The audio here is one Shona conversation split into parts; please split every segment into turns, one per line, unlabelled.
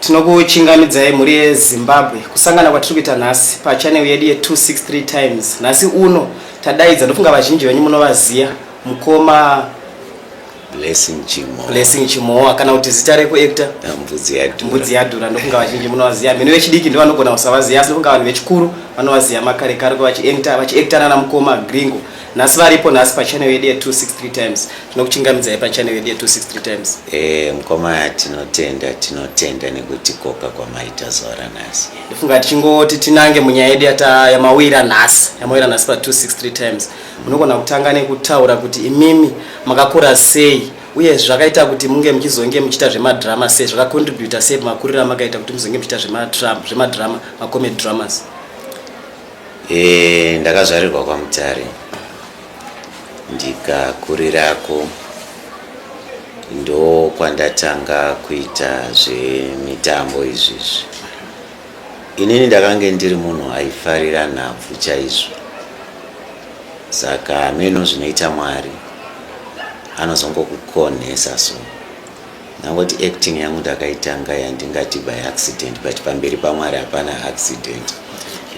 Tinokuchingamidzai mhuri yeZimbabwe kusangana kwatiri kuita nhasi pachanel yedu ye263 times. Nhasi uno tadaidza ndofunga vazhinji venyu munovaziya mukoma Blessing Chimo. Blessing Chimowa kana kuti zita rekuactor Ah, Mbudzi yadhura. mbudzi yadhura ndofunga vazhinji munovaziya mhino vechidiki ndivo vanogona kusavaziya asi ndofunga vanhu vechikuru vanovaziya makare kare ko vachiactor vachiactor nana mukoma gringo nhasi varipo nhasi pachannel yedu ye263 times tinokuchingamidzai pachannel yedu ye263 times eh mkoma
tinotenda tinotenda nekuti koka kwamaita zora nhasi ndifunga tichingoti
tinange munyaya yedu yata yamawira nhasi yamawira nhasi pa263 times munogona kutanga nekutaura kuti imimi makakura sei uye zvakaita kuti munge muchizonge muchiita zvemadrama sei zvakacontributa sei makuriro amakaita kuti muzonge muchiita zvemadrama macomed dramas Eh,
ndakazvarirwa kwaMutare ndikakurirako ndokwandatanga kuita zvemitambo izvizvi inini ndakange ndiri munhu aifarira nhabvu chaizvo saka hameno zvinoita mwari anozongokukonhesa so Ndangoti acting yangu ndakaitanga yandingati by accident but pamberi paMwari hapana accident.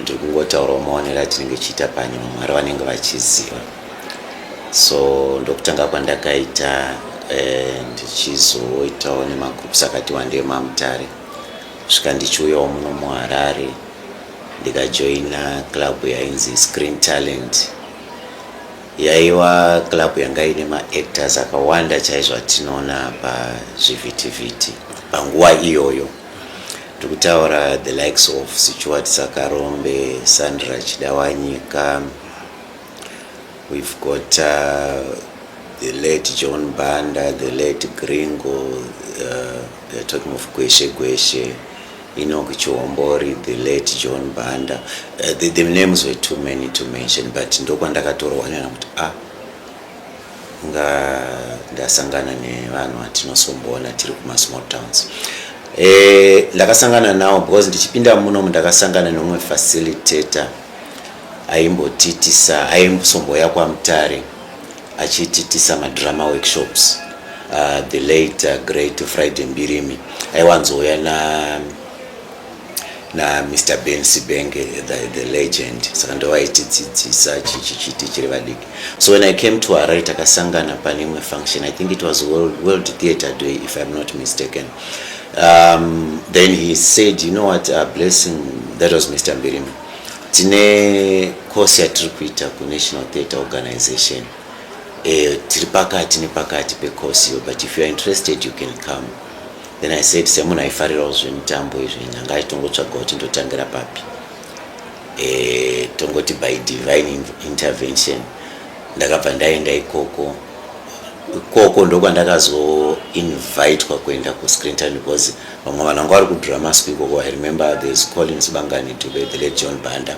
Ndiri kungotaurawo maonero atinenge tichiita panyama Mwari vanenge vachiziva. So ndokutanga kwandakaita eh, ndichizoitawo nemagroups akati wandei maMutare svika ndichiuyawo muno muHarare ndikajoina club yainzi Screen Talent. Yaiva club yanga ine maactors akawanda chaizvo atinoona pazvivhitivhiti panguva iyoyo. Ndiri kutaura the likes of Sichuwat Sakarombe, Sandra Chidawanyika, we've got uh, the late John Banda, the late Gringo, uh, they're talking of Gweshe Gweshe. Enoch Chihombori, the late John Banda. Uh, the, the names were too many to mention, but ndokwandakatorwa nena kuti ah, nga ndasangana nevanhu vatinosomboona tiri kuma small towns. Eh, ndakasangana nawo because ndichipinda munomu ndakasangana neumwe facilitator aimbotitisa aimbosomboya kwaMutare achiititisa madrama workshops uh, the late uh, great friday mbirimi aiwanzouya na na mr ben sibenge the, the legend saka ndovaitidzidzisa chichichiti chiri vadiki so when i came to arai takasangana pane imwe function i think it was world, world theatre day if iam not mistaken um, then he said you know what uh, blessing that was mr mbirimi Tine course yatiri kuita kuNational Theatre Organization eh, tiri pakati nepakati pecourse iyo but if youare interested you can come then i said semunhu aifarirawo zvemitambo izvi nyanga aitongotsvaga kuti ndotangira papi eh, tongoti by divine intervention ndakabva ndaenda ikoko ikoko ndokwandakazoinvitwa kuenda kuscrinton because vamwe vanhu vanga vari kudramasco ikoko i remember there's colin sibangani dube the late john banda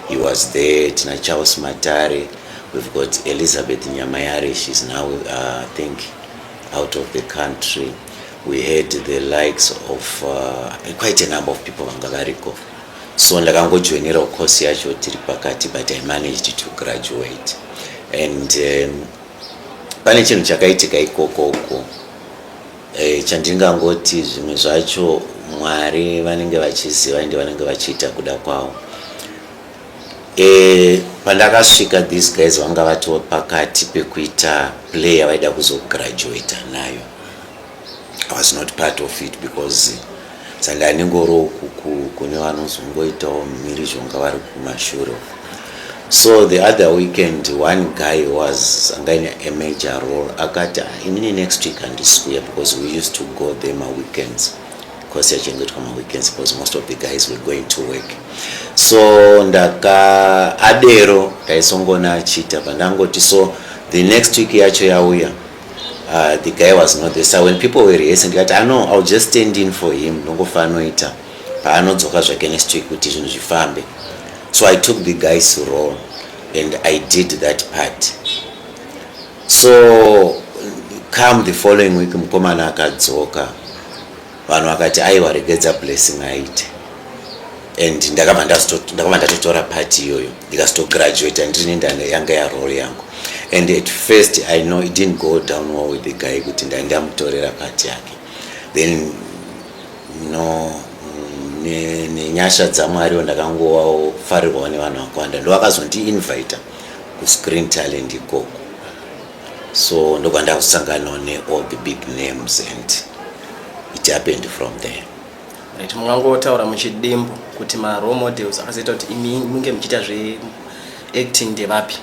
he was there tina charles matare we've got elizabeth nyamayare she's now uh, think out of the country we had the likes of uh, quite a number of people vanga variko so ndakangojoinirawo course yacho tiri pakati but i managed to graduate and um, pane chinhu chakaitika ikoko uko E, chandingangoti zvimwe zvacho Mwari vanenge vachiziva ende vanenge vachiita kuda kwavo. E, pandakasvika these guys vanga vatova pakati pekuita play yavaida kuzograduata nayo. I was not part of it because saka anengoro ukuku kune vanozongoitawo mhirizhonga vari kumashure so the other weekend one guy was angaine a major role akati ah, inini next week handisikuya because we used to go there maweekends because yachengetwa maweekends because most of the guys were going to work so ndaka adero ndaisongona achiita pandangoti so the next week yacho yauya Uh, the guy was not there so when people were rehearsing ndikati ano ah, ill just stand in for him ndongofa anoita paanodzoka zvake next week kuti zvinhu zvifambe so i took the guy's role and i did that part so come the following week mukomana akadzoka Vanhu vakati aiwa regedza Blessing aite and ndakabva ndatotora party iyoyo ndikazitograduata ndirini ndane yanga yarole yangu and at first i know it didn't go down well with the guy kuti ndai ndamutorera party yake then no mm, nenyasha ne dzamwariwo ndakangofarirwawo nevanhu vakawanda ndo vakazondiinvita kuscreen talent ikoko so ndobva ndakusanganawo neall the big names and it happened from there right
mungangotaura muchidimbu kuti marole models akazoita kuti imi munge muchiita zveacting ndevapi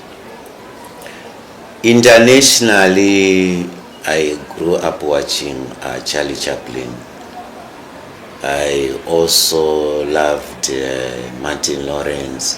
internationally i grew up watching uh, charlie chaplin i also loved uh, martin lawrence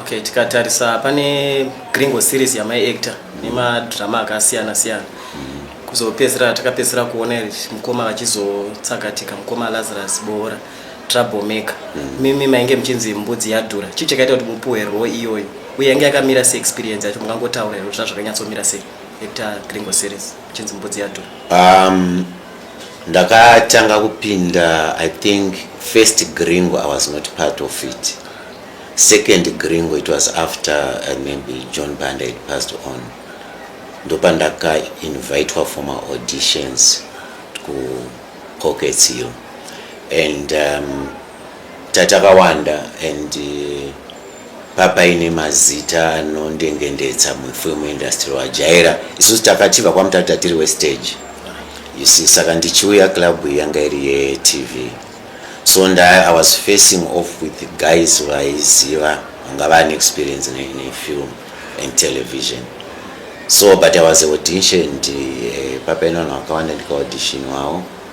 Okay, tikatarisa pane Gringo series yamai actor nemadrama akasiyana siyana kuzopedzisira takapedzisira kuona mukoma vachizotsakatika mukoma Lazarus Boora trouble maker mm. mimi mainge muchinzi mbudzi yadhura chii chakaita kuti mupuwe rwo iyoyo uye yange yakamira se experience yacho mungangotaura here kuti zvazvakanyatsomira sei actor Gringo series muchinzi mbudzi yadhura um,
ndakatanga kupinda i think first gringo i was not part of it second gringo it was after uh, maybe john banda had passed on ndopandakainvitwa for maauditions kupockets iyo and um, Tatakawanda and eh, papaine mazita anondengendetsa mufilm industry wajaira isusu takatiba kwamutata tiri westage you see saka ndichiuya club yanga iri yetv so nda i was facing off with guys vaiziva vanga vane experience nefilm and television so but i was auditioned eh, papaine vanhu vakawanda ndikaaudition wavo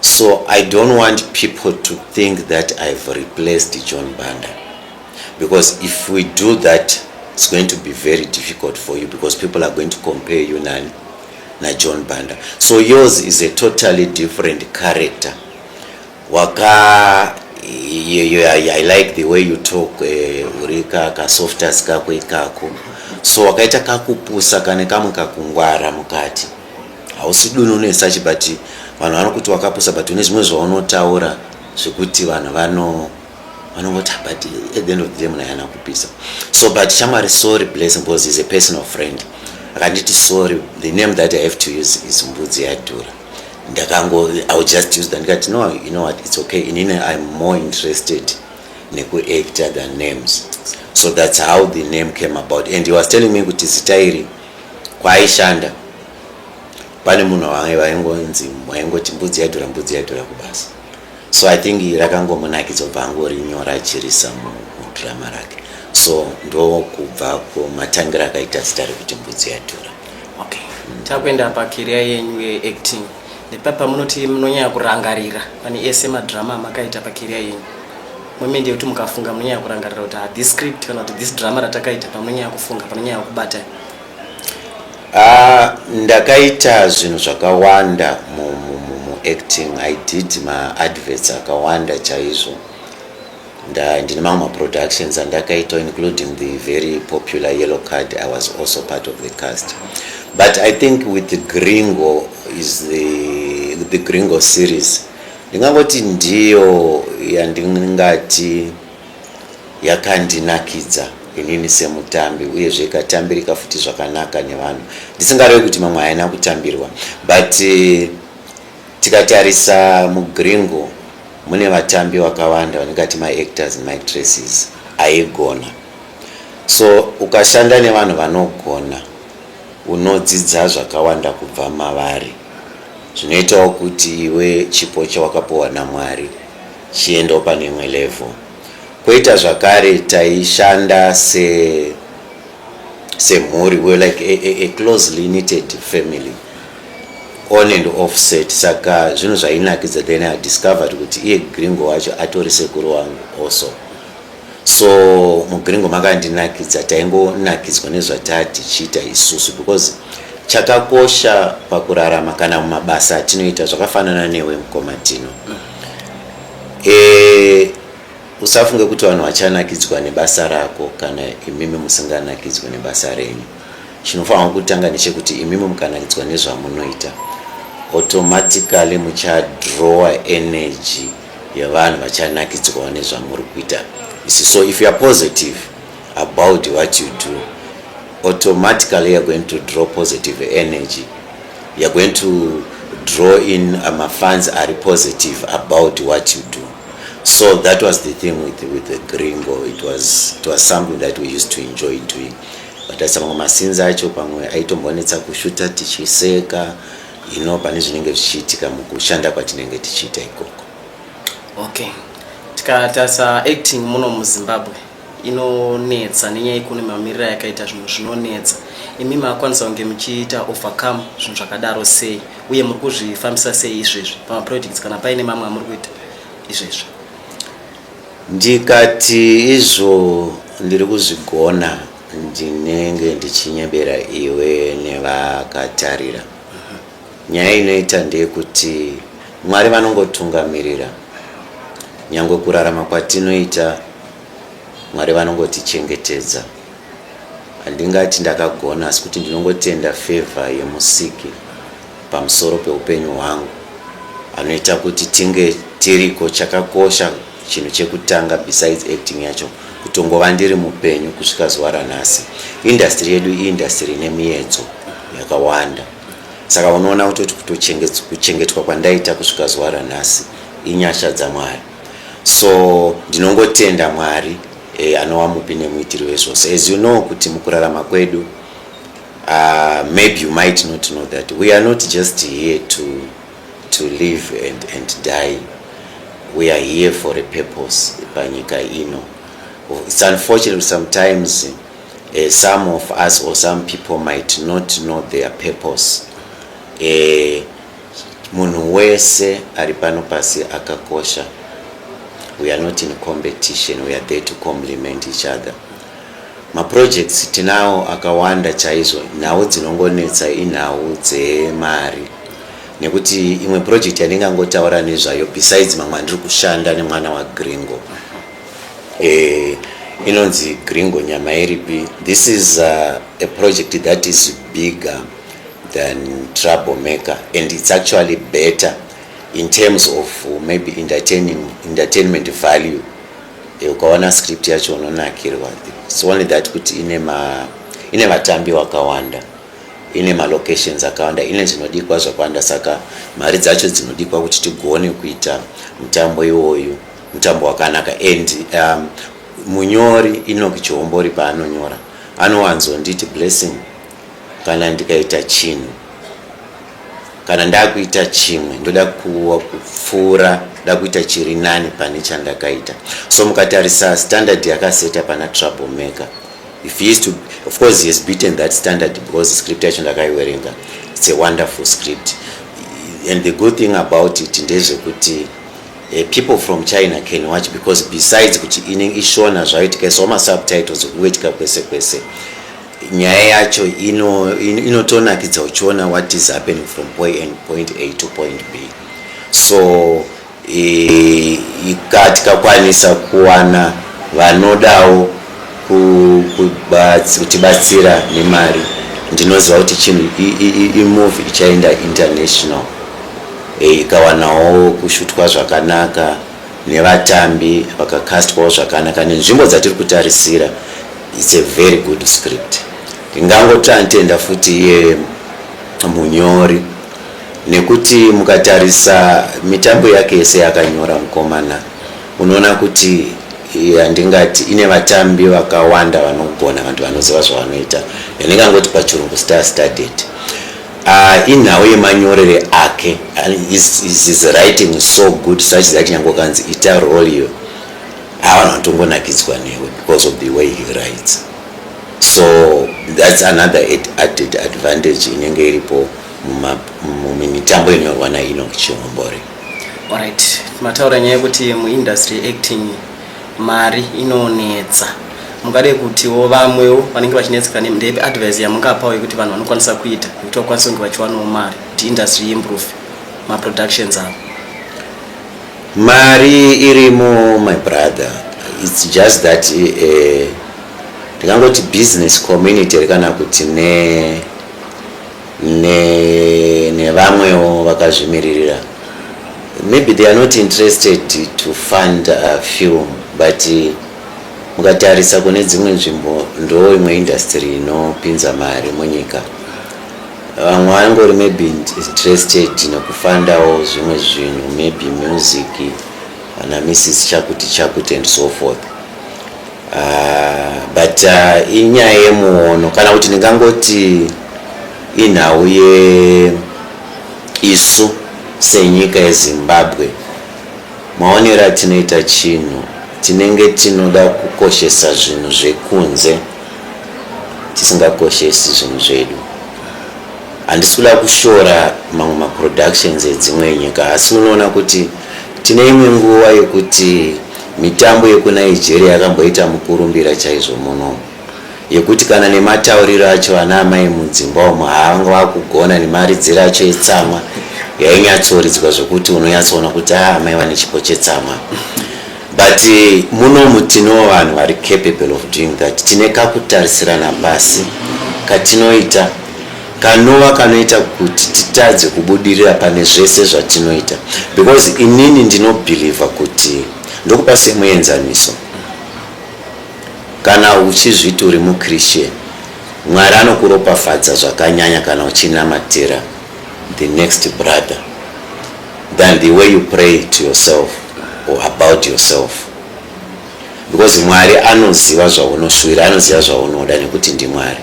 So I don't want people to think that I've replaced John Banda because if we do that it's going to be very difficult for you because people are going to compare you nani na John Banda. So yours is a totally different character. Waka you, you, I, I like the way you talk eh, uri uh, ka ka softers kako ikako so wakaita kakupusa kane kamwe kakungwara mukati Hausi duni une such but vanhu vanokuti wakapusa but une zvimwe zvaunotaura zvekuti vanhu vano vanongoti ah, but at the end of the day munayana kupisa so but shamwari sorry blessing because is a personal friend akanditi sorry the name that i have to use is mbudzi yadhura ndakango i will just use that ndikati no you know what it's okay inini i'm more interested nekuactor than names so that's how the name came about and he was telling me kuti zita iri kwaaishanda pane munhu wange vaingonzi waingoti mbudzi yadhura mbudzi yadhura kubasa so i think rakangomunakidza kubva angorinyora achirisa mudhirama rake so ndokubva kumatangira akaita zita rekuti mbudzi yadhura okay.
takuenda pakeria yenyu yeacting Nepapa munoti munonyanya kurangarira pane ese madrama amakaita pakeriya yenyu. Mome ndeyekuti mukafunga munonyanya kurangarira kuti ah, this script kana kuti this drama ratakaita pamunonyanya kufunga panonyanya kubata. Ah,
ndakaita zvinhu zvakawanda muacting. I did maadverts akawanda chaizvo. nda ndine mamwe maproductions andakaita including the very popular yellow card i was also part of the cast but i think with the gringo is the, the gringo series ndingangoti ndiyo yandingati yakandinakidza inini semutambi uyezve ikatambirika futi zvakanaka nevanhu ndisingarevi kuti mamwe haina kutambirwa but uh, Tikatarisa muGringo mune vatambi vakawanda vaningati maactors nemaactresses aigona so ukashanda nevanhu vanogona unodzidza zvakawanda kubva mavari zvinoitawo kuti iwe chipo chawakapuwa namwari chiendawo pane imwe level kwoita zvakare taishanda se semhuri we like a, a, a closely knitted family on and off set saka zvinhu zvainakidza then i discovered kuti iye gringo wacho atori sekuru wangu also so mugringo makandinakidza taingonakidzwa nezvatatichiita isusu because chakakosha pakurarama kana mumabasa atinoita zvakafanana newe mukoma tino e, usafunge kuti vanhu vachanakidzwa nebasa rako kana imimi musinganakidzwe nebasa renyu Chinofanirwa kutanga ndechekuti imimi mukanakitswa nezvamunoita automatically muchadrowa energy yevanhu vachanakitswawo nezvamuri kuita isi so if youare positive about what you do automatically youare going to draw positive energy youare going to draw in uh, mafans ari positive about what you do so that was the thing with, with the gringo it was, it was something that we used to enjoy doing Kutarisa mamwe mascenes acho pamwe aitombonetsa kushuta tichiseka you know pane zvinenge zvichiitika mukushanda kwatinenge tichiita ikoko. Okay.
Tikatarisa acting muno muZimbabwe inonetsa nenyaya yekune mamiriro yakaita zvinhu zvinonetsa. Imi makwanisa kunge muchiita overcome zvinhu zvakadaro sei uye muri kuzvifambisa sei izvezvi pamaprojects kana paine mamwe amuri kuita izvezvi? Ndikati
izvo ndiri kuzvigona ndinenge ndichinyebera iwe nevakatarira. Nyaya inoita ndeyekuti Mwari vanongotungamirira. Nyangwe kurarama kwatinoita Mwari vanongotichengetedza. Handingati ndakagona asi kuti ndinongotenda favour yemusiki pamusoro peupenyu hwangu anoita kuti tinge tiriko chakakosha chinhu chekutanga besides acting yacho kutongova ndiri mupenyu kusvika zuva ranhasi industry yedu iindustry ine miyedzo yakawanda saka unoona kutoti kuchengetwa kwandaita kusvika zuva ranhasi inyasha dzamwari so ndinongotenda mwari e, anova mupi nemuitiri wezvose as you know kuti mukurarama kwedu uh, maybe you might not know that we are not just here to, to live and, and die we are here for a purpose panyika ino it's unfortunate sometimes uh, some of us or some people might not know their purpose uh, Munhu wese ari pano pasi akakosha. We are not in competition, we are there to compliment each other. Maprojects tinawo akawanda chaizvo, nhau dzinongonetsa inhau dzemari nekuti imwe project yandingangotaura nezvayo besides mamwe andiri kushanda nemwana wagringo eh, inonzi gringo nyama iripi this is uh, a project that is bigger than trouble maker and it's actually better in terms of uh, maybe entertaining entertainment value eh, ukaona script yacho unonakirwa it's only that kuti ine ma ine vatambi wakawanda ine malocations akawanda ine zvinodikwa zvakawanda saka mari dzacho dzinodikwa kuti tigone kuita mutambo iwoyu mutambo wakanaka and um, munyori inoki chihombori paanonyora anowanzonditi blessing kana ndikaita chinhu kana ndakuita chimwe ndoda kuwa kupfuura nda kuita chiri nani pane chandakaita so mukatarisa standard yakaseta pana trouble maker if he is to of course he has beaten that standard because script yacho ndakaiwerenga it's a wonderful script and the good thing about it ndezvekuti uh, people from china can watch because besides kuti inenge ishona zvaitika so masubtitles kuwetika kwese kwese Nyaya yacho ino inotonakidza uchiona what is happening from point A to point B so e, ika tikakwanisa kuwana vanodawo kutibatsira nemari ndinoziva kuti chinhu imove ichaenda international e, ikawanawo kushutwa zvakanaka nevatambi vakakastwawo zvakanaka nenzvimbo dzatiri kutarisira It's a very good script. Ndingangotanitenda futi iye munyori nekuti mukatarisa mitambo yake yese yakanyora mukomana unoona kuti handingati ine vatambi vakawanda vanogona vantu vanoziva zvavanoita yandingangoti pachirungu star studied uh, ah, inhau yemanyorere ake is, is, is writing so good such that nyangokanzi ita roliyo avanhu vanotongonakidzwa newe because of the way he writes so that's another added advantage inenge iripo mumitambo inorwa naino chihombore orit
mataura nyaya yekuti muindustry acting mari inonetsa mungade kutiwo vamwewo vanenge vachinetseka ndepi advice yamungapawo yekuti vanhu vanokwanisa kuita yekuti vakwanise kunge vachiwanawo mari kuti industry improve maproductions avo Mari
irimo my brother it's just that eh, ndingangoti uh, business community kana kuti ne ne nevamwewo vakazvimiririra maybe they are not interested to fund a film but uh, mukatarisa kune dzimwe nzvimbo ndo imwe industry inopinza mari munyika Vamwe vangori maybe interested nekufandawo zvimwe zvinhu maybe music ana Mrs Chakuti Chakuti and so forth. Uh, but uh, inyaya yemuono kana kuti ndingangoti inhau ye isu senyika yezimbabwe maonero atinoita chinhu tinenge tinoda kukoshesa zvinhu zvekunze tisingakoshesi zvinhu zvedu handisi kuda kushora mamwe maproductions edzimwe nyika asi unoona kuti tine imwe nguva yekuti mitambo yekunigeria yakamboita mukurumbira chaizvo muno yekuti kana nematauriro acho ana amai mudzimba umo haavanga vakugona nemaridziro acho etsamwa yainyatsoridzwa zvekuti unonyatsoona kuti aa ah, amai vane chipo chetsamwa But munomu tinewo vanhu vari capable of doing that. Tine kakutarisirana pasi katinoita kanova kanoita kuti titadze kubudirira pane zvese zvatinoita because inini ndinobhilivha kuti ndokupa semuenzaniso kana uchizviti uri muchristian mwari anokuropafadza zvakanyanya kana uchinamatira the next brother than the way you pray to yourself or about yourself because mwari anoziva zvaunoshuvira anoziva zvaunoda nekuti ndimwari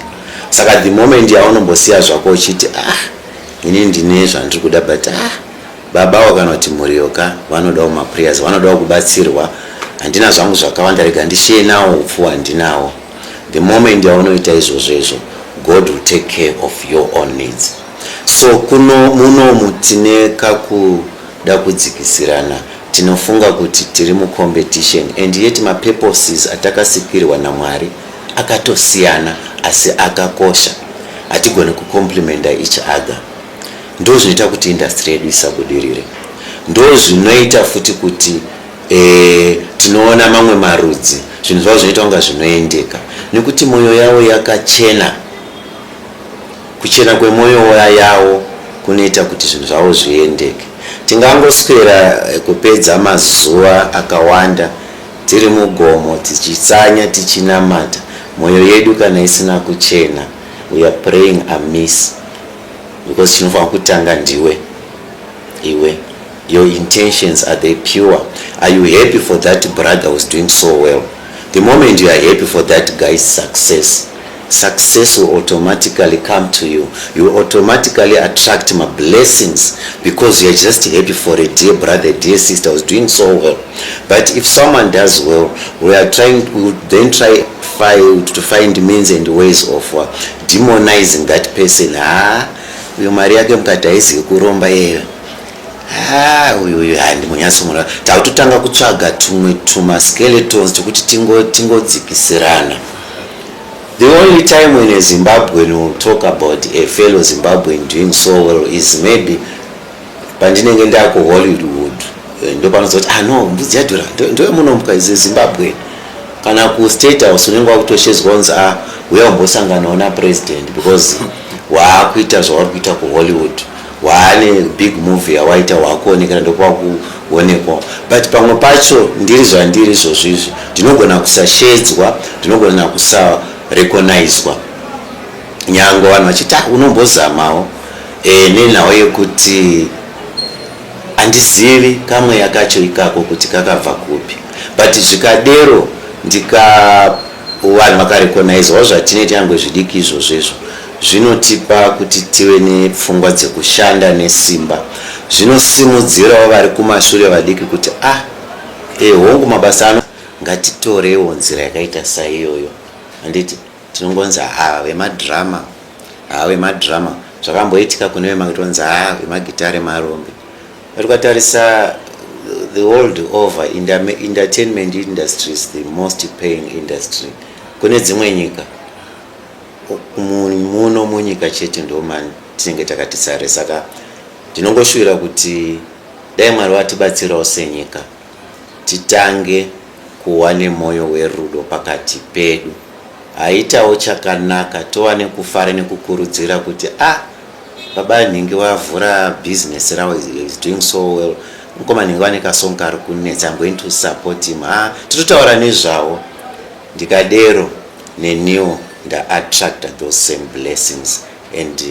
saka the moment yaunombosiya zvako uchiti ah ini ndine zvandiri kuda but ah babawo kana kuti mhuriyoka vanodawo maprayers vanodawo kubatsirwa handina zvangu zvakawanda rega ndishiye nawo upfu handinawo the moment yaunoita izvozvo izvo god will take care of your own needs So kuno munomu tine kakuda kudzikisirana tinofunga kuti tiri mucompetition and yet mapurposes atakasikirwa naMwari akatosiyana asi akakosha hatigone kucomplimenta each other ndo zvinoita kuti industry yedu isabudirire ndo zvinoita futi kuti e, tinoona mamwe marudzi zvinhu zvavo zvinoita kunga zvinoendeka nekuti mwoyo yavo yakachena Kuchena kwemoyo yawo kunoita kuti zvinhu zvavo zviendeke. Tingangoswera eh, kupedza mazuva akawanda tiri mugomo tichitsanya tichinamata, mwoyo yedu kana isina kuchena, we are praying amiss because chinofanira kutanga ndiwe iwe. Your intentions are they pure? Are you happy for that brother who's doing so well? The moment you are happy for that guy's success Success will automatically come to you. You will automatically attract my blessings because you are just happy for a dear brother, a dear sister who's doing so well. But if someone does well, we are trying, we would then try find, to find means and ways of uh, demonizing that person. Ah, uyo mari yake mukati haizivi kuromba iyeyo ah, uyu uyu handi munyasi mura takutotanga kutsvaga tumwe tumaskeletons tokuti tingodzikisirana tingo The only time when a Zimbabwean will talk about a fellow Zimbabwean doing so well is maybe pandinenge ndaku Hollywood eh, ndopanozoti ah no mbudzi yadhura ndoyemunombwa is a Zimbabwean kana ku state house unenge wakutoshedzwa kunzi ah huya umbosanganawo na president because waakuita zvauri kuita ku Hollywood waane big movie yawaita waakuonekera ndokwakuonekwa but pamwe pacho ndiri zvandiri izvozvo izvi ndinogona kusashedzwa ndinogona kusarecognizwa nyange vanhu vachiti ah, unombozamawo e, nenhau yekuti handizivi kamweya kacho ikako kuti kakabva kupi but zvikadero ndika vanhu vakarecognizwa zvatineita yange zvidiki izvozvo izvo Zvinotipa kuti tive nepfungwa dzekushanda nesimba. Zvinosimudzirawo vari kumashure vadiki kuti ah, eh, hongu mabasa ano ngatitorewo nzira yakaita saiyoyo handiti tinongonzi haa ah, vemadhirama haa ah, vemadhirama zvakamboitika kune vematonzi haa ah, vemagitare marombe atukatarisa the world over in the entertainment industry is the most paying industry kune dzimwe nyika muno munyika chete ndomani tinenge takati sare saka ndinongoshuvira kuti dai mwari vatibatsirawo senyika titange kuva nemwoyo werudo pakati pedu haitawo chakanaka tova nekufara nekukurudzira kuti a ah, baba nhingi vavhura business ravo is doing so well mukoma nhingi vane kasong kari kunetsa i'm going to support him ha ah, titotaura nezvavo ndikadero Neniwo nda attractor those same blessings and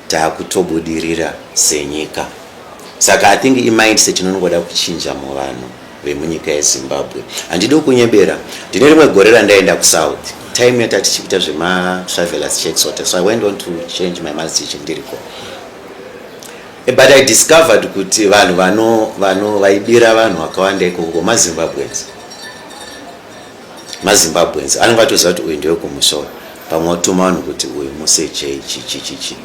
takutobudirira senyika saka I think imindset inongoda kuchinja muvanhu vemunyika yeZimbabwe. Handidi kunyebera, ndine rimwe gore randaenda kuSouth time yata tichikuita zvema travelers checks ote so I went on to change my maths teacher ndiriko eh, but I discovered kuti vanhu vano vano vaibira vanhu vakawanda iko ngoma Zimbabweans mazimbabweans anenge atoziva kuti uyu ndewekumusoro pamwe watuma vanhu kuti uyu musechei chichichichi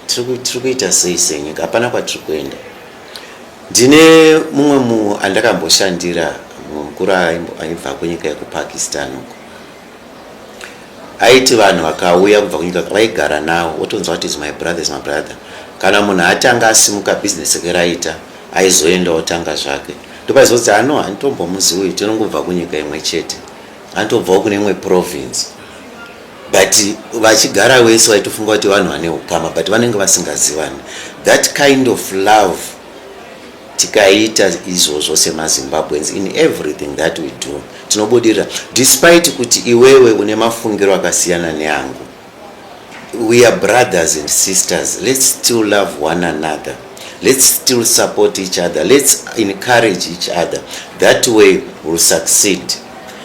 tiri kuita sei senyika hapana kwatiri kuenda ndine mumwe munhu andakamboshandira mumwe mukuru aibva kunyika yekupakistan uko aiti vanhu vakauya kubva kunyika vaigara navo wotonzwa kuti is my brother is my brother kana munhu atanga asimuka bhizinesi rake raita Aizoenda otanga zvake ndopaizonzi hano handitombomuziwi tinongobva kunyika imwe chete anotobvawo kune imwe province but vachigara wese vaitofunga kuti vanhu vane ukama but vanenge vasingazivani that kind of love tikaita izvozvo semazimbabweans in everything that we do tinobudirira despite kuti iwewe une mafungiro akasiyana neangu we are brothers and sisters let's still love one another let's still support each other let's encourage each other that way will succeed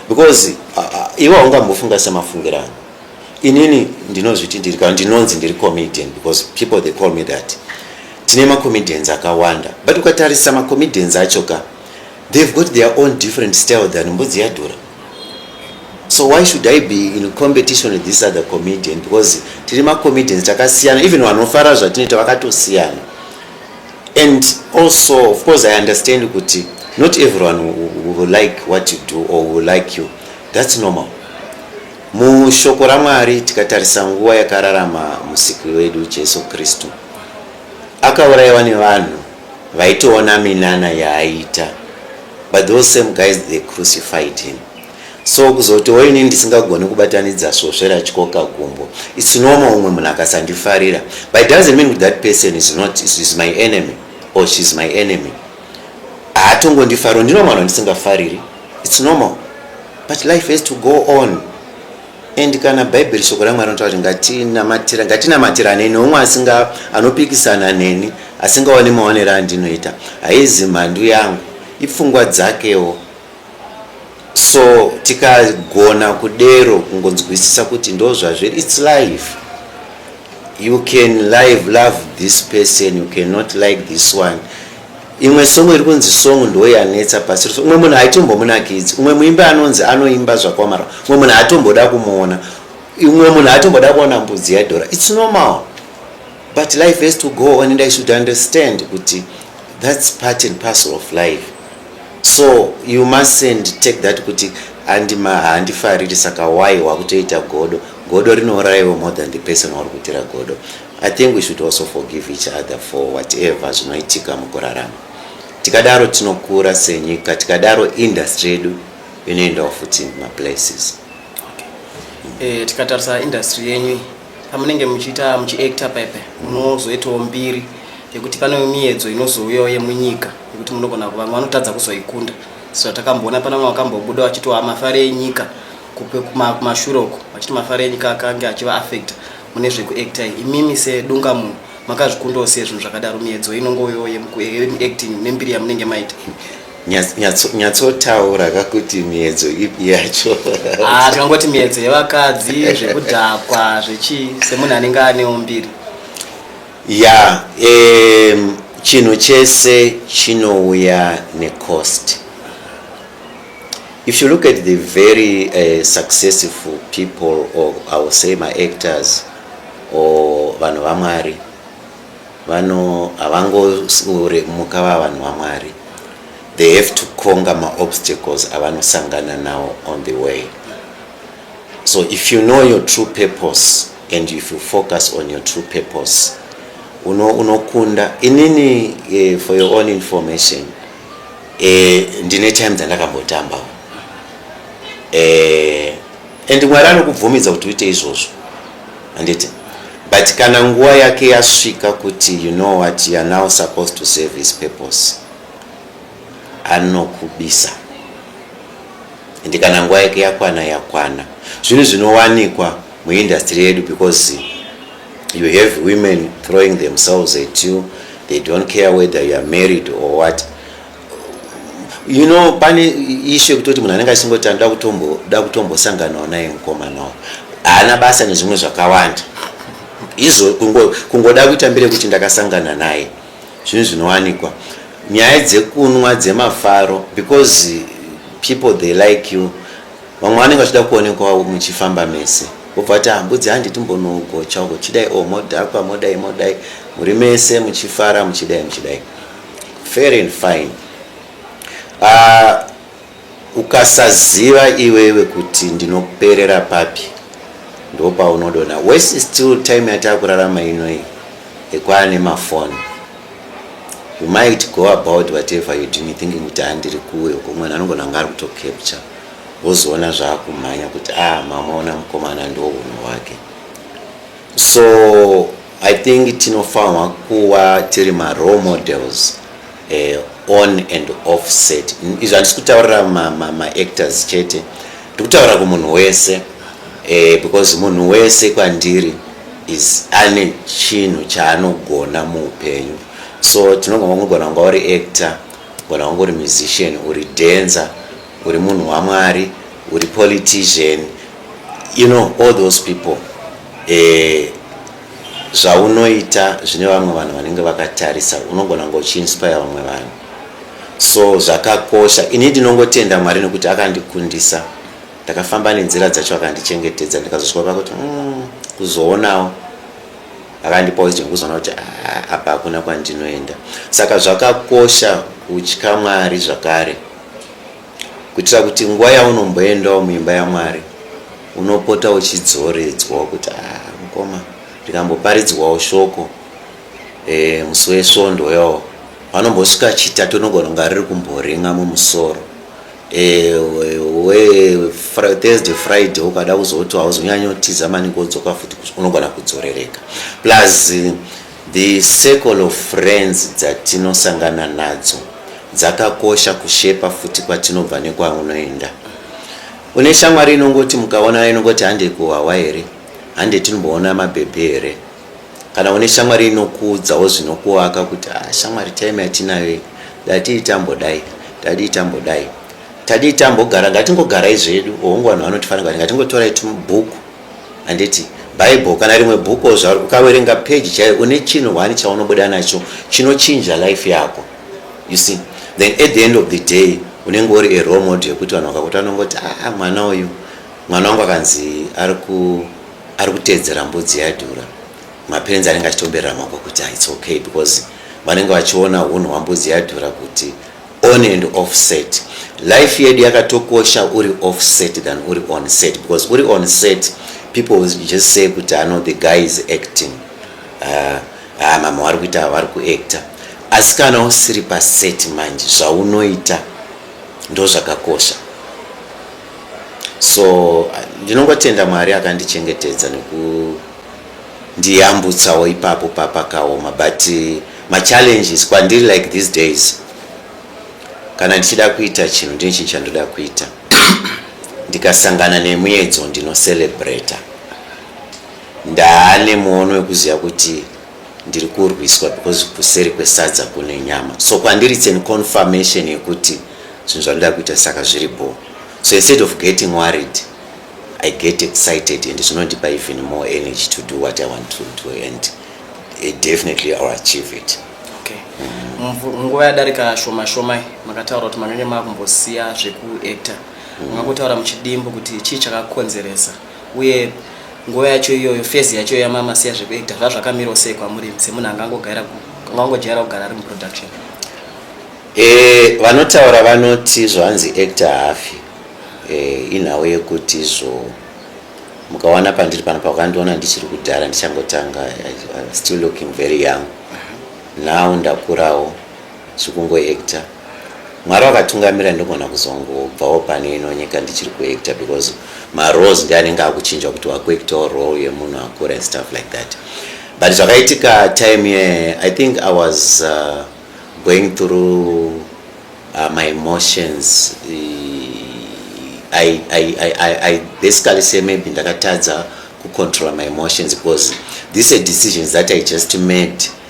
because uh, uh, iwe haungambofunga semafungira ano inini ndinozviti ndiri kana ndinonzi ndiri comedian because people they call me that tine macomedians akawanda but ukatarisa macomedians acho ka they've got their own different style than mbudzi yadhura so why should i be in competition with this other comedian because tiri macomedians takasiyana even vanofara zvatinoita vakatosiyana and also of course i understand kuti not everyone will like what you do or will like you that's normal mushoko ramwari tikatarisa nguva yakararama musiki wedu jesu kristu akaurayiwa nevanhu vaitoona minana yaaita but those same guys they crucified him so kuzoti oini ndisingagoni kubatanidza svosve ratyoka gumbo its normal umwe munhu akasandifarira but doesn't mean that person is not is my enemy or she is my enemy haatongondifaro ndinomanwa ndisingafariri its normal but life has to go on And kana bhaibheri shoko ramwari rinotaura kuti ngatinamatira ngatinamatiranei neumwe asinga anopikisana neni asingaone maonero andinoita haizi mhandu yangu ipfungwa dzakewo so tikagona kudero kungonzwisisa kuti ndo zvazviri its life you can live love this person you cannot like this one Imwe song iri kunzi song ndo yanetsa pasi rose. Umwe munhu haitombomunakidzi. Umwe muimbi anonzi anoimba zvakwamara. Umwe munhu haatomboda kumuona. Umwe munhu haatomboda kuona mbudzi yadhora. It's normal. But life has to go on and I should understand kuti that's part and parcel of life. So you mustn't take that kuti andima handifariri saka why wakutoita godo. Godo rinouraiwa more than the person wauri kuitira godo. I think we should also forgive each other for whatever zvinoitika mukurarama tikadaro tinokura senyika tikadaro industry yedu inoendawo futi maplaces okay. eh,
tikatarisa industry yenyu pamunenge muchiita muchiacta pepe munozoitawo mm. mbiri yekuti pane miyedzo inozouyawo yemunyika yekuti munogona vamwe vanotadza kuzoikunda so takamboona pana mwe wakambobuda wachitowa mafari enyika kupe kumashure uko vachiti mafaro enyu kakange achiva affect mune zvekuacta imimi sedunga munhu makazvikundawo sei zvinhu zvakadaro miedzo inongoyo yemuacting nembiri yamunenge maita nyatsotaura
kakuti miedzo ipi yacho ah, tinongoti
miedzo yevakadzi zvekudhakwa zvechii semunhu anenge anewo mbiri
ya um, chinhu chese chinouya necost If you look at the very uh, successful people or I will say my actors or vanhu vamwari vano havangoremuka va vanhu vamwari they have to conga maobstacles avanosangana nawo on the way so if you know your true purpose and if you focus on your true purpose unokunda uno inini uh, for your own information eh, ndine time dzandakambotambawo eh, and mwari anokubvumidza kuti uite izvozvo anditi but kana nguva yake yasvika kuti you know what you are now supposed to serve his purpose anokubisa and kana nguva yake yakwana yakwana zvinhu zvinowanikwa muindastry yedu because You have women throwing themselves at you. They don't care whether you are married or what. You know, pane issue yekutoti munhu anenge achingoti anoda kutombo da kutombosanganawo naye mukomanawo. Haana basa nezvimwe zvakawanda. Izvo kungo kungoda kuita mbire kuti ndakasangana naye. Zvinhu zvinowanikwa. Nyaya dzekunwa dzemafaro because people they like you Vamwe vanenge vachida kuonekwawo muchifamba mese vobva vati ah, mbudzi handi timbonogocha uko chidai o oh, modhakwa modai modai muri mese muchifara muchidai muchidai fair and fine uh, ukasaziva iwewe kuti ndinoperera papi ndopaunodona wese still time yataa kurarama inoi ekwana nemafoni you might go about whatever you doing thinking kuti andiri kuwe uko mwana anongona anga ari kutocapture wozoona zvaakumhanya kuti ah mamaona mukomana ndo hunhu hwake so i think tinofanirwa kuva tiri marole models eh, on and off set izvi handisi kutaurira maactors ma, chete ndikutaurira kumunhu wese eh, because munhu wese kwandiri is ane chinhu chaanogona muupenyu so tinogona kugona kunga uri actor Kana ungori musician, uri dancer, uri munhu waMwari, uri politician, you know all those people eh, zvaunoita zvine vamwe vanhu vanenge vakatarisa, unogona kunge uchiinspire vamwe vanhu, so zvakakosha. Ini ndinongotenda Mwari nekuti akandikundisa, ndakafamba nenzira dzacho akandichengetedza, ndikazosvika pakuti mm, kuzoonawo akandipawo izwi rekuzoona kuti ah, apa hakuna kwandinoenda saka zvakakosha kutya mwari zvakare kuitira kuti nguva yaunomboendawo muimba yamwari unopota uchidzoredzwawo kuti ah, mukoma ndikamboparidzwawo shoko e, musi wesvondo yawo vanombosvika chitatu unogona kunga riri kumboringa mumusoro ewe thursday friday ukada kuzoti hauzonyanyotiza maningi wodzoka futi unogona kudzorereka plus the circle of friends dzatinosangana nadzo dzakakosha kushepa futi kwatinobva nekwaunoenda une shamwari inongoti mukaonana inongoti handei kuhwawa here handei tinomboona mabhebhi here Kana une shamwari inokuudzawo zvinokuvaka kuti ah, shamwari time yatinayo iyi datii tambodai tadii tambodai tadii tambogara ngatingogarai zvedu hongu vanhu vanotifanira kuti ngatingotorai tubhuku handiti bible kana rimwe bhuku zvaro ukaverenga peji chaiyo une chinhu hwani chaunobuda nacho chinochinja life yako you see then at the end of the day unenge uri eromod yekuti vanhu vakakuti vanongoti aa ah, ah, mwana uyu mwana wangu akanzi ari ku ari kuteedzera mbudzi yaidhura mapenzi anenge achitomberera mambo kuti ah, its okay because vanenge vachiona unhu hwambudzi yaidhura kuti on and off set life yedu yakatokosha uri off set than uri on set because uri on set people will just say kuti ano ah, the guy is acting ah, ah, mama vari kuita vari kuactor asi kana usiri paset manje zvaunoita ndo zvakakosha so ndinongotenda mwari akandichengetedza nekundiyambutsawo ipapo papakaoma but eh, machallenges kwandiri like these days kana ndichida kuita chinhu ndine chinhu chandoda kuita ndikasangana nemuedzo ndinocelebrata ndaane muono wekuziva kuti ndiri kurwiswa because kuseri kwesadza kune nyama so kwandiri it's an confirmation yekuti zvinhu zvandoda kuita saka zviri bho so instead of getting worried i get excited and zvinondipa even more energy to do what i want to do and it definitely ill achieve it
mm. nguva yadarika shoma shoma makataura kuti makange maakumbosiya zvekuactor mm. makotaura muchidimbo kuti chii chakakonzeresa uye nguva yacho iyoyo fezi yacho yamama siya zvekuita zvazvakamirawo sei kwamuri semunhu angangogaira angangojaira kugara ari muproduction e,
vanotaura vanoti zvanzi actor hafi e, inhau yekuti zvo mukawana pandiri pano pakandiona ndichiri kudhara ndichangotanga still looking very young now ndakurawo zvikungo actor mwari vakatungamira ndogona kuzongobvawo pano ino nyika ndichiri kuacta because maroles ndi anenge akuchinja kuti wakuactawo role yemunhu akura and stuff like that but zvakaitika time ye i think i was uh, going through uh, my emotions I, I, I, I, i basically say maybe ndakatadza kucontrola my emotions because these are decisions that i just made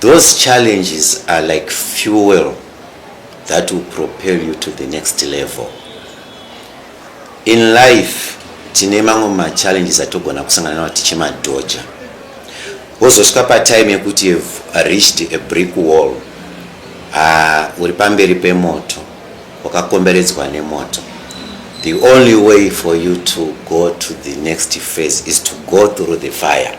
Those challenges are like fuel that will propel you to the next level. In life, tine mamwe machallenges atogona kusangana nawo tichimadhoja wozosvika patime yekuti you've reached a brick wall ah, uri pamberi pemoto wakakomberedzwa nemoto the only way for you to go to the next phase is to go through the fire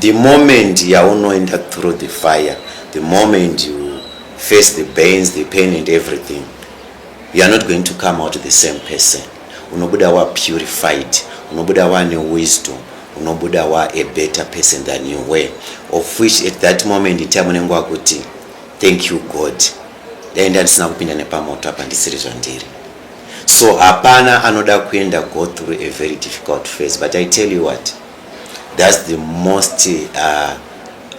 The moment yaunoenda through the fire, the moment you face the pains, the pain and everything, you are not going to come out the same person. Unobuda wa purified, unobuda wa ne wisdom, unobuda wa a better person than you were. Of which at that moment in time unenge wakuti thank you God. Dai ndandisina kupinda nepamoto apa ndisiri zvandiri. So hapana anoda kuenda go through a very difficult phase but I tell you what That's the most uh,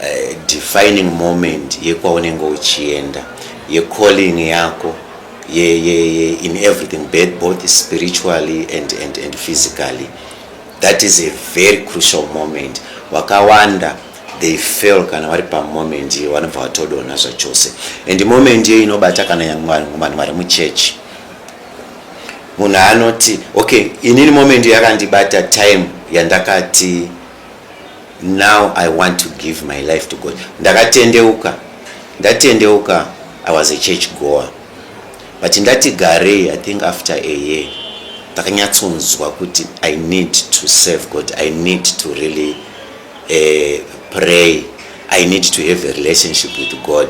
uh, defining moment yekwaunenge uchienda yecalling yako ye, ye, ye, in everything both spiritually and, and, and physically that is a very crucial moment wakawanda they fail kana vari pamoment iyo vanobva vatodona zvachose and moment iyo inobata kana vanhu vari muchechi munhu anoti okay inini moment yakandibata time yandakati now i want to give my life to god ndakatendeuka ndatendeuka i was a church goer but ndati garei i think after a year ndakanyatsonzwa kuti i need to serve god i need to really uh, pray i need to have a relationship with god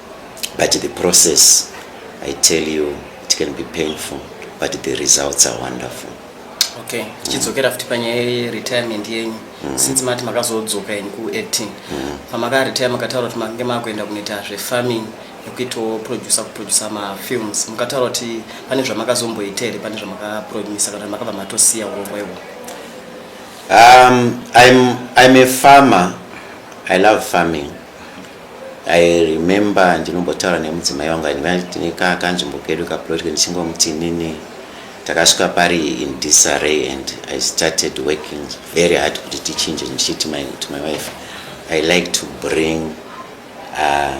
but the process i tell you it can be painful but the results are wonderful okay
tichidzokera mm. futi panyaya yeretirement yenyu mm. since mati makazodzoka in kuacting mm. pamakaretire makataura kuti makange makuenda kunoita zvefarming nekuitawo producer kuproducer mafilms mukataura kuti pane zvamakazomboita here pane zvamakapromisa kana makabva matosiya urongwa ihwo um, I'm, I'm a farmer i love farming I remember ndinombotaura nemudzimai wangu aindivati kaa kanzvimbo kedu kaplot ndichingomuti inini takasvika pari in disarray and i started working very hard kuti tichinje ndichiti my, to my wife i like to bring uh,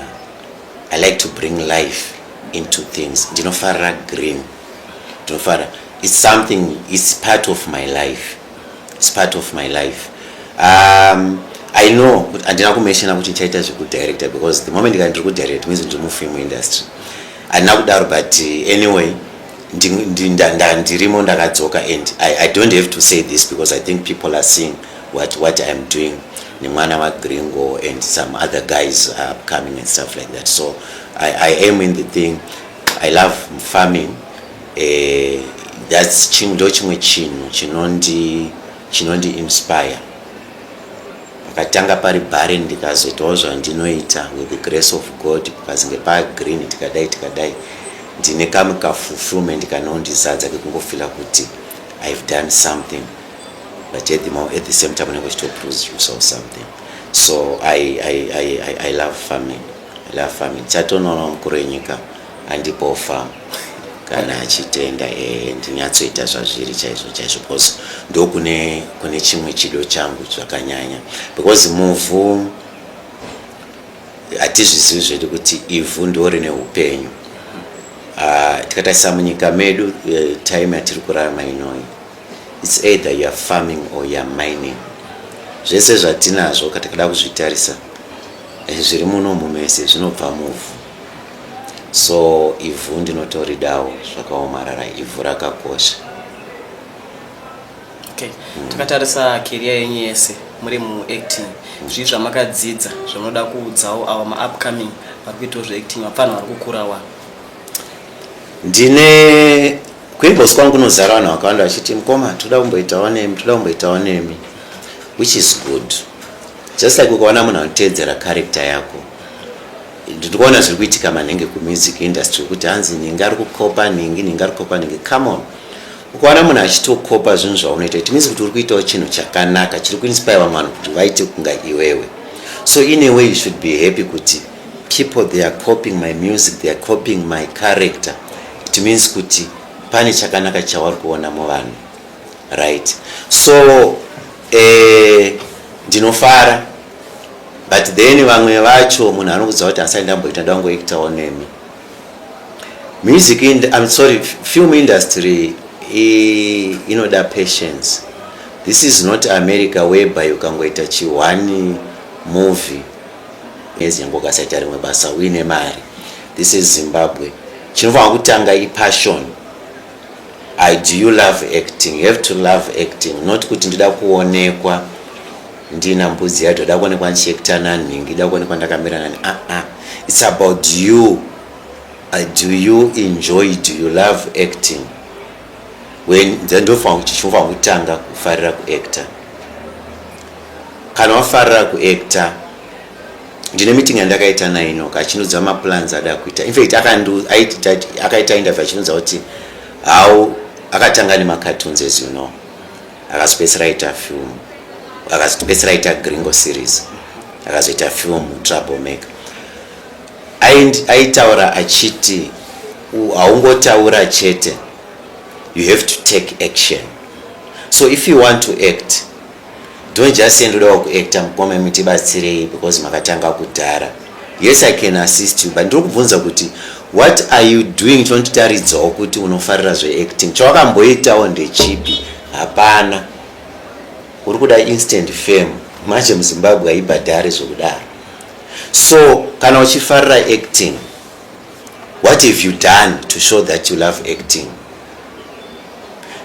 i like to bring life into things ndinofarira green ndinofarira it's something it's part of my life it's part of my life um, i know kuti handina kumeshena kuti ndichaita zvekudirector because the moment ka ndiri kudirect means ndiri mufilm industry handina kudaro but uh, anyway ndirimo ndakadzoka and I, i don't have to say this because i think people are seeing what, what iam doing nemwana wagringo and some other guys are coming and stuff like that so i, I am in the thing I love farming eh, that's chim, ndo chimwe chinhu chinondi chinondi inspire pakatanga pari barren ndikazoitawo zvandinoita with the grace of god kukazinge pa green tikadai tikadai ndine kamwe ka fulfillment kanondizadza kekungofila kuti i've done something but at the, moment, at the same time unenge uchitoproduce yourself something so I, I, I, I, i love farming la fam ndichatonoona mukuru wenyika andipo fam kana achitenda ee eh, ndinyatsoita zvazviri chaizvo chaizvo because ndokune kune chimwe chido changu zvakanyanya because muvhu hatizvizivi zvedu kuti ivhu ndo rine upenyu ah, tikatarisa munyika medu eh, time yatiri kurarama inoyi It's either you are farming or you are mining. Zvese zvatinazvo katikada kuzvitarisa eh, zviri muno mumese zvinobva muvhu. So ivhu ndinotoridawo zvakaomarara ivhu rakakosha. Okay. Mm. Takatarisa career yenyu yese muri mu acting. Mm. Zvii zvamakadzidza zvinoda kuudzawo awa ma upcoming vari kuitawo zve acting vapfana vari kukurawa. Ndine
kuimbos kwangu kunozara vanhu vakawanda vachiti mukoma toda kumboitawo nemi toda kumboitawo nemi which is good just like ukaona munhu anoteedzera character yako ndiri kuona zviri kuitika manhenge kumusic industry kuti hanzi nhingi ari kukopa nhingi nhingi ari kukopa nhingi come on ukaona munhu achitokopa zvinhu zvaunoita it means kuti uri kuitawo chinhu chakanaka chiri kuinspire vamwe vanhu kuti vaite kunga iwewe so in a way you should be happy kuti people they are copying my music they are copying my character it means kuti pane chakanaka chavari kuona muvanhu right so eh, ndinofara but then vamwe vacho munhu anokudza kuti asai ndamboita ndangoektawo nemi music in, i'm sorry film industry inoda patience this is not america whereby ukangoita chihwani movie mwedzi yangu ukasaita rimwe basa uine mari this is zimbabwe chinofanira kutanga ipassion i do you love acting you have to love acting not kuti ndida kuonekwa ndina mbudzi yacho da kuonekwa ndichiekta nanhingi da kuonekwa ndakamira nani aa ah, ah. its about you uh, do you enjoy do you love acting when ndofanira kuti chinofanira kutanga kufarira kuactor Kana wafarira kuactor ndine meeting yandakaita naye inoka achinudza maplans ada kuita infact akaita interview achinudza kuti how akatanga nemacartoons as you know akazopedzisira aita film akazopedzisira aita gringo series akazoita film trouble maker aitaura achiti haungotaura chete you have to take action so if you want to act Don't just say ndodawo kuactor mukoma imi tibatsirei because makatanga kudhara. Yes I can assist you but ndiri kubvunza kuti what are you doing chonotitaridzawo kuti unofarira zveacting chawakamboitawo ndechipi hapana uri kuda instant fame manje muzimbabwe haibhadhare zvokudaro so kana uchifarira acting What have you done to show that you love acting?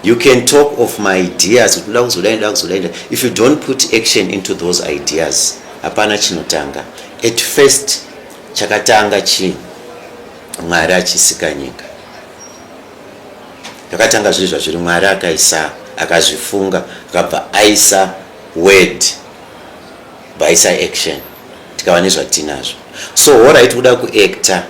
You can talk of my ideas, if you don't put action into those ideas, hapana chinotanga. At first, chakatanga chi Mwari achisika nyika. Chakatanga zviri zvazviri Mwari akaisa akazvifunga akabva aisa word bhaisa action tikava nezvatinazvo so hora iti kuda kuacta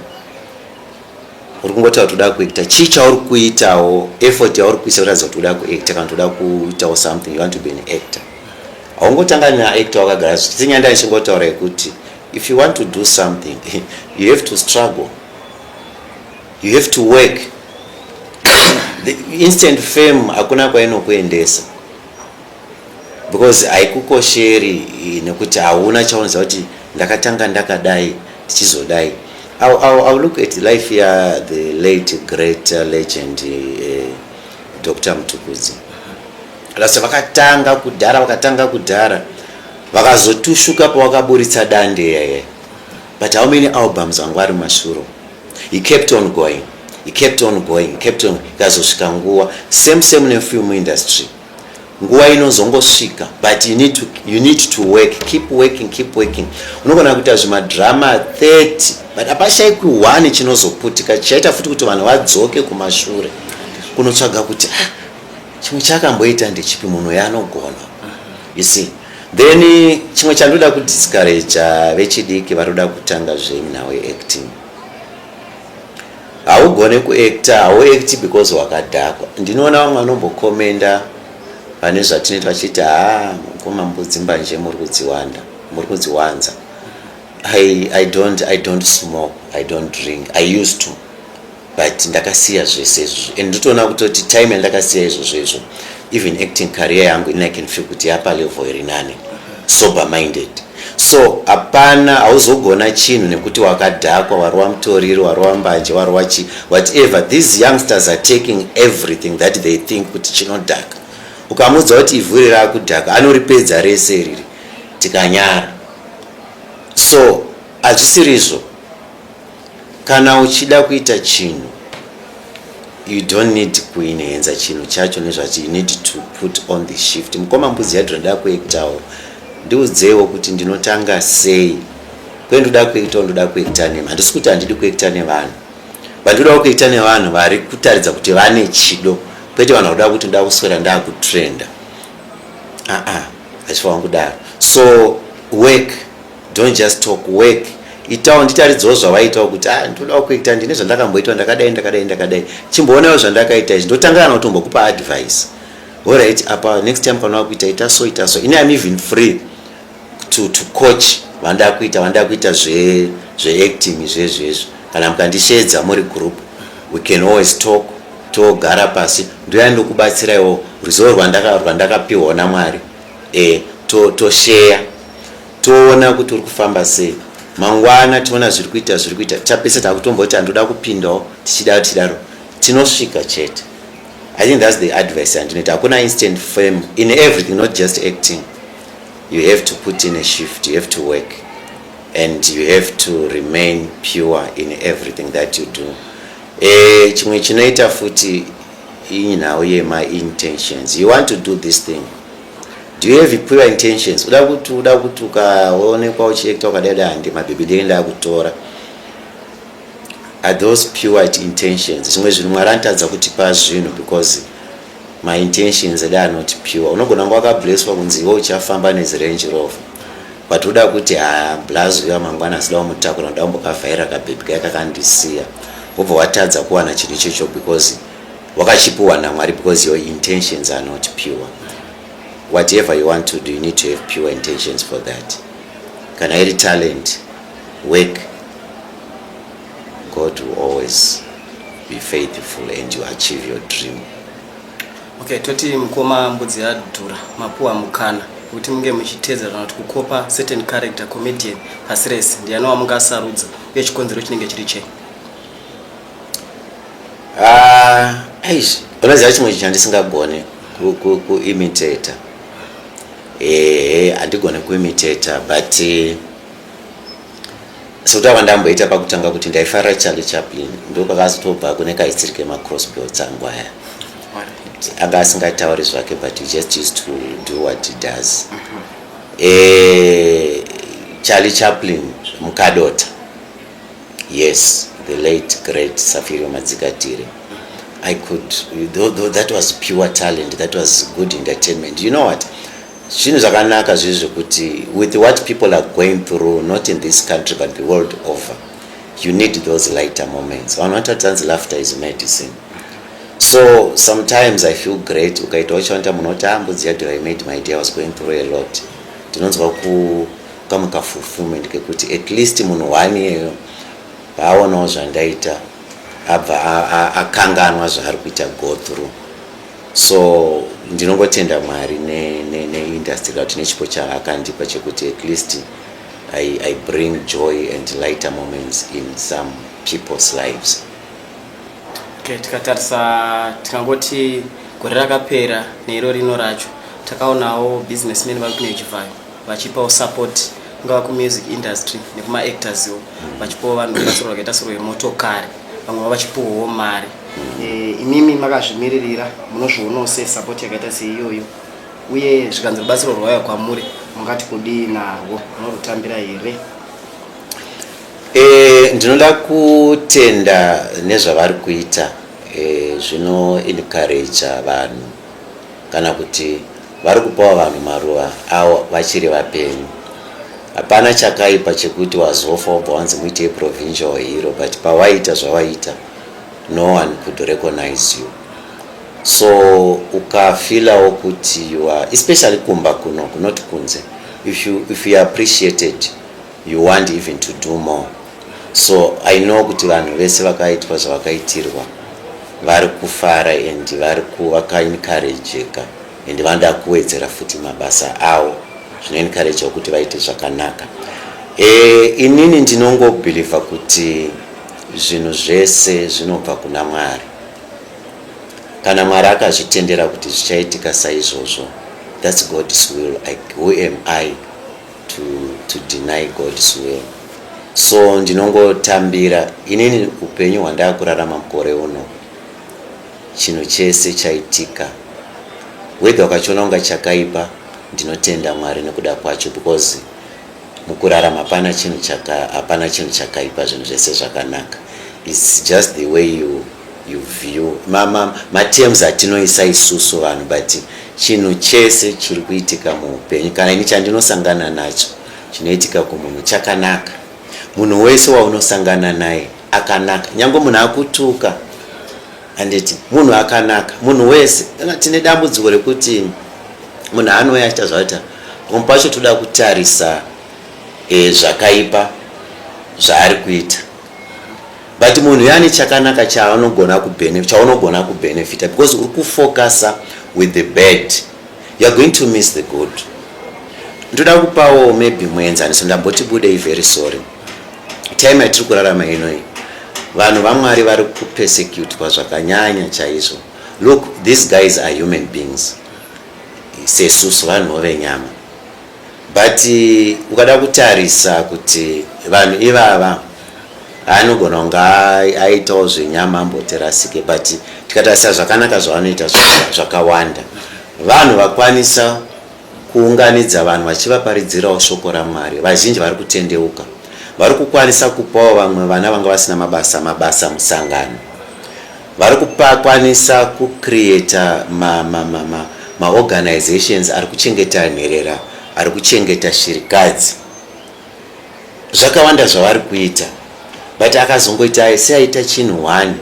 uri kungotaura kuti uda kuacta chii chauri kuitawo effort yauri kuisa kuratidza kuti uda kuacta kana kuti uda kuitawo something you want to be an actor haungotanga neacta wakagara zvisenyanda nichingotaura yekuti if you want to do something you have to struggle you have to work the instant fame hakuna kwainokuendesa because haikukosheri eh, nekuti hauna chaunoziva kuti ndakatanga ndakadai tichizodai I, I, I look at life ya the late great uh, legend eh, Dr. Mtukudzi last vakatanga kudhara vakatanga kudhara vakazotushuka pavakaburitsa dande yeye but how many albums vanga vari mashuro he kept on going he kept on going he kept on ikazosvika nguva same same nefilm industry nguva inozongosvika but you need to, you need to work keep working keep working unogona kuita zvimadrama 30 but hapashaikwi 1 chinozoputika chichaita futi kuti vanhu vadzoke kumashure kunotsvaga kuti ah, chimwe chakamboita ndechipi munhu yanogona you see then chimwe chandoda kudiscouraja vechidiki varoda kutanga zvenhau yeacting Haugone kuactor, hauacti because wakadhakwa. Ndinoona vamwe vanombokomenda pane zvatinoita vachiti haa mukoma mbudzi mbanje muri kudziwanda, muri kudziwanza. I, I don't, I don't smoke, I don't drink, I used to but ndakasiya zvese izvozvo and ndotoona kutoti time yandakasiya izvozvo izvo even acting career yangu ini i can feel kuti yapa level iri nani sober minded so hapana hauzogona chinhu nekuti wakadhakwa warova mutoriro warova mbanje warova chi whatever these youngsters are taking everything that they think kuti chinodhaka ukamuudza kuti ivhu iri rakudhaka anoripedza rese riri tikanyara so hazvisirizvo Kana uchida kuita chinhu you don't need kuinenza chinhu chacho nezvati you need to put on the shift. Mukoma mbudzi yadhura ndoda kuektawo ndiudzeiwo kuti ndinotanga sei kwendoda kuektawo ndoda kuekta nema handisi kuti handidi kuekta nevanhu vandodawo kuekta nevanhu vari kutaridza kuti vane chido kwete vanhu vakuda kuti ndoda kuswera ndakutrenda aa hachifanwa kudaro so work don't just talk work itawo nditaridzawo zvavaitawo kuti ah ndodawo kuita ndine zvandakamboitawo ndakadai ndakadai ndakadai chimboonawo zvandakaita izvi ndotangana kutombokupa advice horit apa next time kana wakuita ita so ita so ini am even free to, to coach vandaa kuita vandaa kuita zveacting zve zvezvezvo kana mukandisheedza muri group we can always talk togara pasi ndoya ndokubatsiraiwo ruzivo rwandakapiwa namwari eh, to, to share toona kuti uri kufamba sei mangwana tiona zviri kuita zviri kuita tapese takutomboti andoda kupindawo tichidaro tichidaro tinosvika chete i think thats the advice yandinoita hakuna instant fame in everything not just acting you have to put in a shift you have to work and you have to remain pure in everything that you do e, chimwe chinoita futi Iyi nhau yema intentions. You want to do this thing. Do you have pure intentions? Uda kuti uda kuti ukaonekwa uchiekta ukadai dai handi mabhebhi ndenge ndakutora. Are those pure intentions? Zvimwe zvinhu Mwari anotadza kutipa zvinhu because my intentions that are not pure. Unogona kunge wakablesswa kunzi iwe uchafamba nezi Range Rover. but uda kuti haa blaz uya mangwana asida wamutakura ndoda kumbokavhaira kabhebhi kaye kakandisiya wobva watadza kuwana chinhu ichocho because wakachipiwa namwari because your intentions are not pure whatever you want to do you need to have pure intentions for that kana iri talent work god will always be faithful and you achieve your dream Okay,
toti mukoma mbudzi yadhura mapuwa mukana kuti munge muchitedza kana kuti kukopa certain character comedian pasi rese ndianowa mungasarudza uye chikonzero chinenge chiri chei
ah, eish unoziva chimwe chinhu chandisingagone kuimitator ehe handigone kuimitator but uh, sekutaura ndamboita pakutanga kuti ndaifara charlie chaplin ndokakazotobva kune kaisiri kemacrossbelts angu aya anga asingatauri zvake but he just used to do what he does mm-hmm. eh, charlie chaplin mukadota yes the late great safirio madzikatire i could though, though that was pure talent that was good entertainment you know what Zvinhu zvakanaka zviri zvekuti with what people are going through not in this country but the world over you need those lighter moments. Vanhu vanotaridza hanzi laughter is medicine. So sometimes I feel great ukaitawo chawanta munhu oti ah mbudzi yadhura I made my day I was going through a lot. Tinonzwa ku kamwe ka fulfillment kekuti at least munhu one iyeyo paaonawo zvandaita abva akanganwa zvaari kuita go through so ndinongotenda mwari neindustry ne, ne kuti nechipo chaakandipa chekuti at least I, i bring joy and lighter moments in some people's lives
okay, tikatarisa tikangoti gore rakapera neiro rino racho takaonawo businessmen vari kune chivhayo vachipawo support kungava kumusic industry nekuma actors wo vachipawo vanhu vasorwa kaita sorwa yemotokari vamwe va vachipuwawo mari Eh, imimi makazvimiririra munozvionawo se support yakaita seiyoyo uye zvikanzi rubatsiro rwauya kwamuri mungati kudii narwo munorutambira here e,
ndinoda kutenda nezvavari kuita e, zvino encouraja vanhu kana kuti vari kupawo vanhu maruva awo vachiri vapenyu hapana chakaipa chekuti wazofa wobva wanzi muitei provincial hero but pawaita zvawaita no one could recognize you so ukafilawo kuti you are especially kumba kuno kunoti kunze if you, if you appreciated you want even to do more so i know kuti vanhu vese vakaitwa zvavakaitirwa vari kufara and vari vakaencourageka and vanoda kuwedzera futi mabasa avo zvinoencouragea kuti vaite zvakanaka e, inini ndinongobhilivha kuti Zvinhu zvese zvinobva kuna Mwari. Kana Mwari akazvitendera kuti zvichaitika saizvozvo, that's God's will. I, who am I to, to deny God's will? So ndinongotambira inini upenyu hwandakurarama mukore uno, chinhu chese chaitika, whether wakachiona kunga chakaipa, ndinotenda Mwari nekuda kwacho because Mukurarama hapana chinhu chaka hapana chinhu chakaipa zvinhu zvese zvakanaka. It's just the way you you view ma ma ma terms atinoisa isusu vanhu but chinhu chese chiri kuitika muupenyu kana ini chandinosangana nacho chinoitika kumunhu chakanaka. Munhu wese waunosangana naye akanaka. Nyange munhu akutuka Handiti munhu akanaka munhu wese kana tine dambudziko rekuti munhu anouya achiita zvaita pamwe pacho toda kutarisa e, zvakaipa zvaari kuita but munhu yani chakanaka chaanogona chaunogona kubenefita because uri kufocusa with the bad youare going to miss the good ndoda kupawo maybe muenzaniso ndamboti budei very sorry time yatiri kurarama ino iyi vanhu vamwari vari kupersecutwa zvakanyanya chaizvo look these guys are human beings sesusu vanhuwo venyama but eh, ukada kutarisa kuti vanhu ivava anogona kunge aitawo zvenyama amboterasike but tikatarisa zvakanaka zvavanoita zvakawanda vanhu vakwanisa Kuunganidza vanhu vachivaparidzirawo shoko raMwari. Vazhinji vari kutendeuka. Vari kukwanisa kupawo vamwe vana vanga vasina mabasa mabasa musangano. Vari kupakwanisa kucreata ma, ma, ma, ma, maorganizations ari kuchengeta nherera, ari kuchengeta shirikadzi. Zvakawanda zvavari kuita. But akazongoita seaita chinhu one.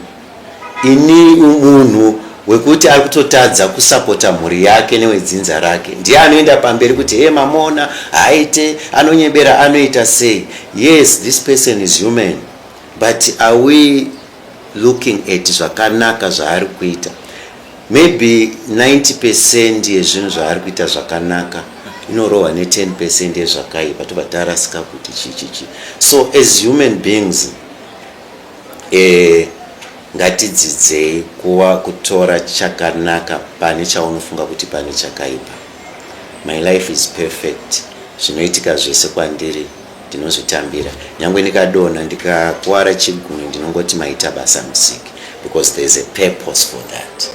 Ini munhu wekuti ari kutotadza kusapota mhuri yake newedzinza rake ndiye anoenda pamberi kuti hee mamuona haaite anonyebera anoita sei yes this person is human but are we looking at zvakanaka zvaari kuita maybe 90 percent yezvinhu zvaari kuita zvakanaka inorohwa ne10 percent yezvakaipa tobva tarasika kuti chichichi so as human beings Eeh ngatidzidzei kuva kutora chakanaka pane chaunofunga kuti pane chakaipa. My life is perfect zvinoitika zvese kwandiri ndinozvitambira nyangwe ndikadonha ndikakuwara chigunwe ndinongoti maita basa musiki because there's a purpose for that.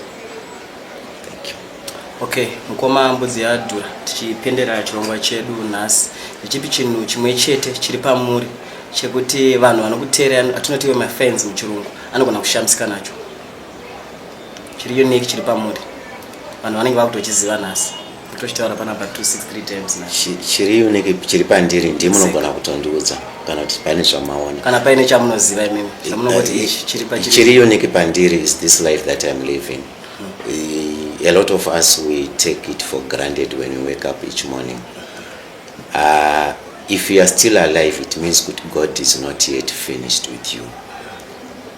Okay,
mukoma mbudzi yadhura tichipendera chirongwa chedu nhasi nechipi chinhu chimwe chete chiri pamuri chekuti vanhu vanokuteerera atinoti iwe mafans muchirungu anogona kushamisika nacho chiri unique chiri pamuri vanhu vanenge vakutochiziva nhasi tochitaura panapa 263 times na chiri unike chiri
pandiri ndi munogona kutondiudza kana kuti paine zvamaona kana paine chamunoziva
imimi chamunongoti eh, ichi chiri pachiri chiri
unike pandiri is this life that i'm living hmm. a lot of us we take it for granted when we wake up each morning uh, if you are still alive it means good god is not yet finished with you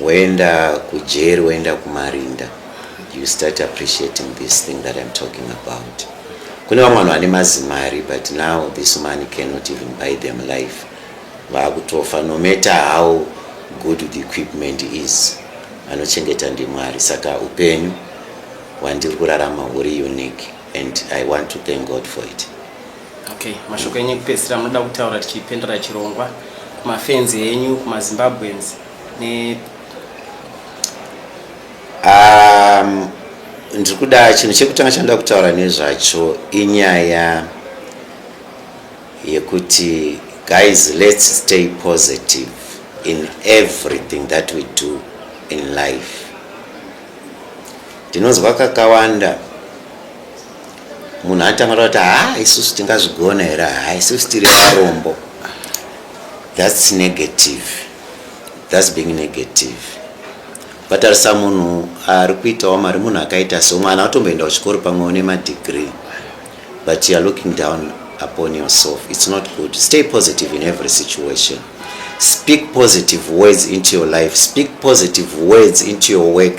Woenda kujeri woenda kumarinda you start appreciating this thing that I'm talking about. Kune vamwe vanhu vane mazimari but now this money cannot even buy them life. Vakutofa no matter how good the equipment is. Anochengeta ndiMwari saka upenyu hwandiri kurarama huri unique and I want to thank God for it. Okay,
mashoko enyu ekupedzisira munoda kutaura tichipendera chirongwa kumafenzi enyu kumazimbabweans ne
um, ndiri kuda chinhu chekutanga chanoda kutaura nezvacho inyaya yekuti guys let's stay positive in everything that we do in life ndinonzwa kakawanda munhu anotanga kuti haa isusu tingazvigona here haa isusu tiri varombo thats negative thats being negative vatarisa munhu ari kuitawo mari munhu akaita so mwana watomboenda kuchikoro pamwewo nemadegree but youare looking down upon yourself its not good stay positive in every situation speak positive words into your life speak positive words into your work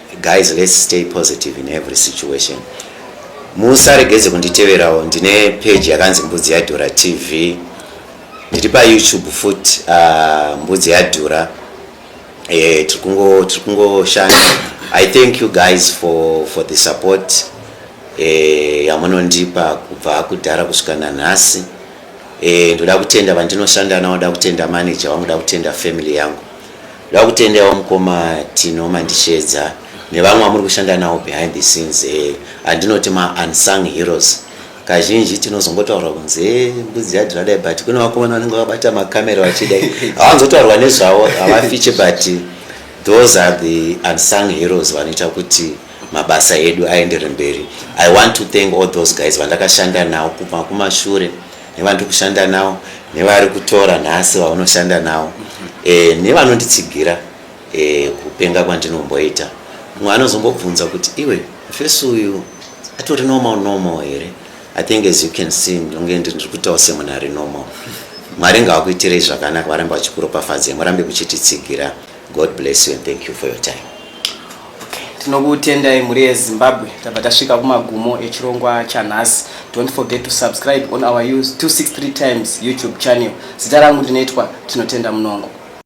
Guys let's stay positive in every situation. Musaregedze kunditeverawo ndine page yakanzi Mbudzi Yadhura TV. Ndiri pa YouTube futi uh, ah, Mbudzi Yadhura. Eh tiri kungo tiri kungo shanda. I thank you guys for for the support eh yamunondipa kubva kudhara kusvika nanhasi. Eh ndoda kutenda vandinoshanda navo, ndoda kutenda manager wangu, ndoda kutenda family yangu. Ndakutendawo mukoma Tino Mandishedza nevamwe vamuri kushanda nawo behind the scenes eh, andinoti ma unsung heroes kazhinji tinozongotaurwa kunzi eh, mbudzi yadhira dai but kune vakomana vanenge vakabata makamera vachidai havanzotaurwa nezvavo havafiche but those are the unsung heroes vanoita kuti mabasa edu aendere mberi i want to thank all those guys vandakashanda nawo kubva kumashure nevandiri kushanda navo nevari kutora nhasi vaunoshanda navo e, nevanonditsigira e, kupenga kwandinomboita mumwe anozombobvunza kuti iwe fesi uyu atori normal normal here i think as you can see ndonge ndiri kutaura semunhu ari normal mwari ngawakuitirei zvakanaka varambe vachikuropafadzai murambe muchititsigira God bless you and thank you for your time. tinokutendai
mhuri yezimbabwe tabva tasvika kumagumo echirongwa chanhasi don't forget to subscribe on our 263 times youtube channel zita rangu ndinoitwa tinotenda munongo